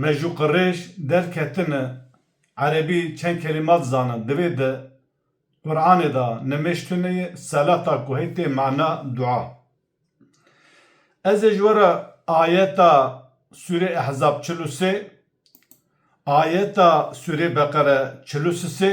Me ji Qurêş derketine erebî çend kelîma dizane. Di vê de Quranê de nimêj tune ye, selata ku hê tê mana dua. Ez ê ji we re ayeta sûrê Ehzab çil û sê, ayeta sûrê Beqere çil û sisê,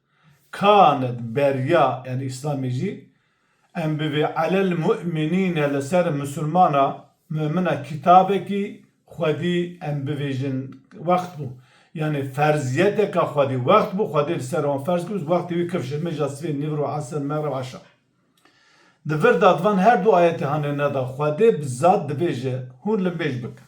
Kanet berya yani îslamê jî em bivê alel mu'minîne li ser misilmana mu'mina kîtabekî xwedî em bivêjin wext bû. Yanî ferzîyeteka xwedî wext bû xwedî li ser wan ferz kir û wextê wî kifşir mêja sivê nîvro esr megreb eşa. Di vir de di van her du ayetê hanê neda xwedê bi zat dibêje hûn li mêj bikin.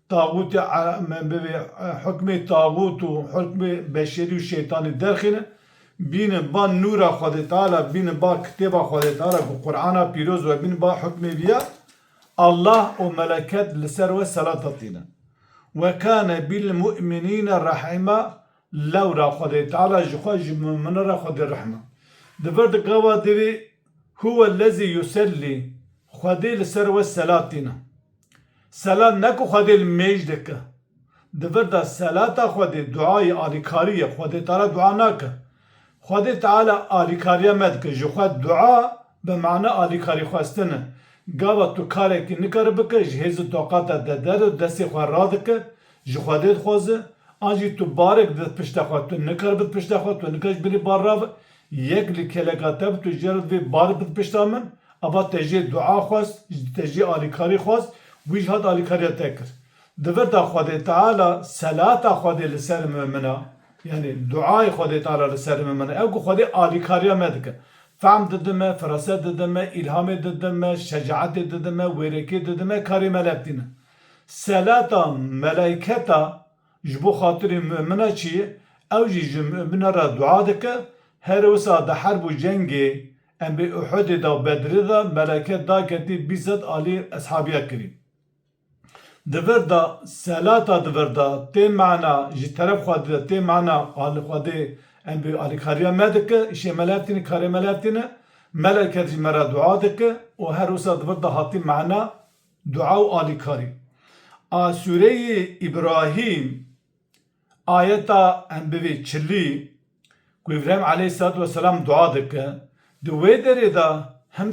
Taxûtê me bi vê hukmê taxût û hukmê beşerî û şeytanî derxîne. Bînin ba nûra Xwedê Teala, bînin ba kitêba Xwedê Teala ku Qur'ana pîroz we, bînin ba hukmê wî ya. Allah û meleket li ser we selata tîne. Ve kâne bil-mu'minîne rahîma, lewra Xwedê Teala ji xwe ji mu'minan re xwedî rehm e. Di vir di gava divê, Huwellezî yusellî, Xwedê li ser we selat tîne. Selat ne ku Xwedê li mêj de ke. Di vir de selata Xwedê duayê alîkarî ye, Xwedê te re dua nake. Xwedê Teala alîkariya me dike, ji xwe dua bi mana alîkarî xwestin e. Gava tu karekî nikare bike, ji hêz û taqata te der e, destê xwe radike, ji Xwedê dixwaze. An jî tu barek dide di pişta xwe, tu nikare bi di pişta xwe, tu nikare ji binê bar rabe, Yek li keleka te bi tu jê re divê bar bid pişta min, ava te jê dua xwest, te jê alîkarî xwest, wî jî hat alîkariya te kir. Di vir de Xwedê Teala selata Xwedê li ser me min a, yanî duayê Xwedê Teala li ser me min a, ew ku Xwedê alîkariya me dike. Fehm dide me, firaset dide me, îlhamê dide me, şecaetê dide me, wêrekê dide me, karê me lep tîne. Selata melayketa. Ji bo xatirê mumina çi ye? Ew jî ji mumina re dua dike, Herê wisa di herb û cengê embê Uhudê de û Bedrê de meleke daketî bîst sed alî eshabiya kirî. Di vir de selata di vir de tê mana ji teref Xwedê de tê mana alî Xwedê embê alîkariya me dike, îşê me li hev tîne, karê me li hev tîne. Meleke jî me re dua dike û her wisa di vir de hatî mana Dua û alîkarî a sûreyê Îbrahîm ayeta embivê çilî ku Îbrahîm aleyhîsselatu weselam dua dike, di wê derê de him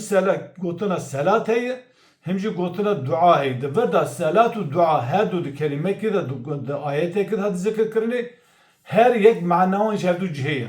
gotina selat heye him jî gotina dua heye. Di vir de selat û dua her du di kelîmekê de di ayetekê de hate zikirkirinê, her yek maneyan ji hevdu cihê ye.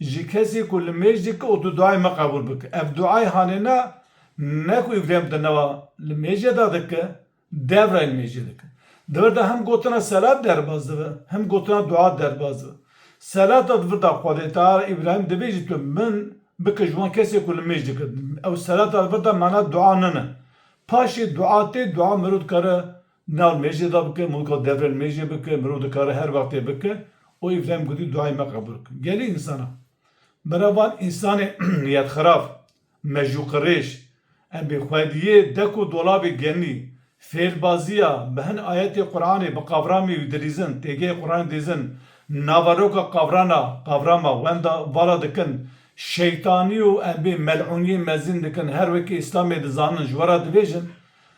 Ji kesê ku li mêj dike û tu duayê me qebûl bike. Ev duayê hanêna ne ku Îbrahîm di nava li mêjê de dike, dev re li mêjê dike. Di vir de him gotina selat derbas dibe, him gotina dua derbas dibe. Selata di vir de Xwedêteala Îbrahîm dibêjî tu min bike ji wan kesê ku li mêj dike. Ew selata di vir de mana dua nene. Paşê dua tê, dua mirov dikare Nal mêjê da bike, mulka devrên mêjê bike, mirov dikare her wextê bike û Îbrahîm gotî duayê me qebûl bike. Gelê însan a. Bera van însanê niyetxirab, mejûqirêj, em bê xwediyê dek û dolabê genî, fêlbaziya, bi hin ayetê Quranê, bi qavramê wî dilîzin, têgeyê Quranê dîzin, naveroka qavrana, qavrama, wenda, vala dikin, şeytanî û em bê mel'ûniyê mezin dikin, her wekî Îslamê dizanin, ji we re dibêjin,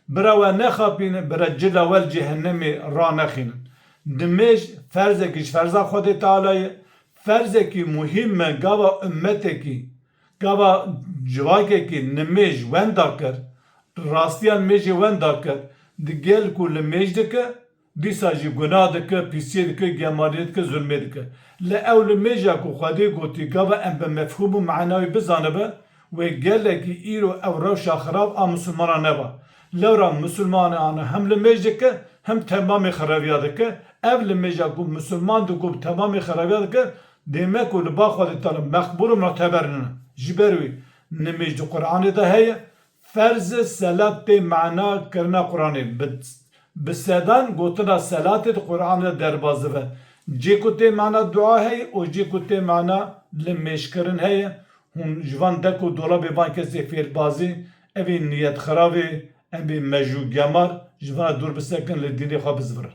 Bira we nexapînin, bira ci lawel cehennemê ranexînin. Dimêj ferzekî ji ferza Xwedê Teala ye. Ferzekî muhîm me gava ummetekî, gava civakekî nimêj wenda kir, rastiya nimêjê wenda kir. Di gel ku li mêj dike, Dîsa jî gunah dike, pîsiyê dike, gemaliyê dike, zulmê dike. Lê ew li mêja ku Xwedê gotî gava em bi mefhûm û me'na wî bizanibe, wê gelekî îro ew rewşa xirab a misilmanan neba. Lewra misilmanan hem li mêj dike, hem temamê xirabiya dike. Ev li mêja ku misilman digob temamê xirabiya dike, dê me ku li ba Xwedê Teala meqbûl û mu'teber nina. Ji ber wî nimêj di Quranê de heye, Ferz e selat tê mana kirina Quranê. Bi sedan gotina selatê di Quran de derbas dive. Cê ku tê mana dua heye û cê ku tê mana li mêjkirin heye. Hûn ji van dek û dolabê van kesê fêlbazê, evê niyetxiravê, embê mejûgemar ji van re dûr bisekin li dînê xwe bizvirin.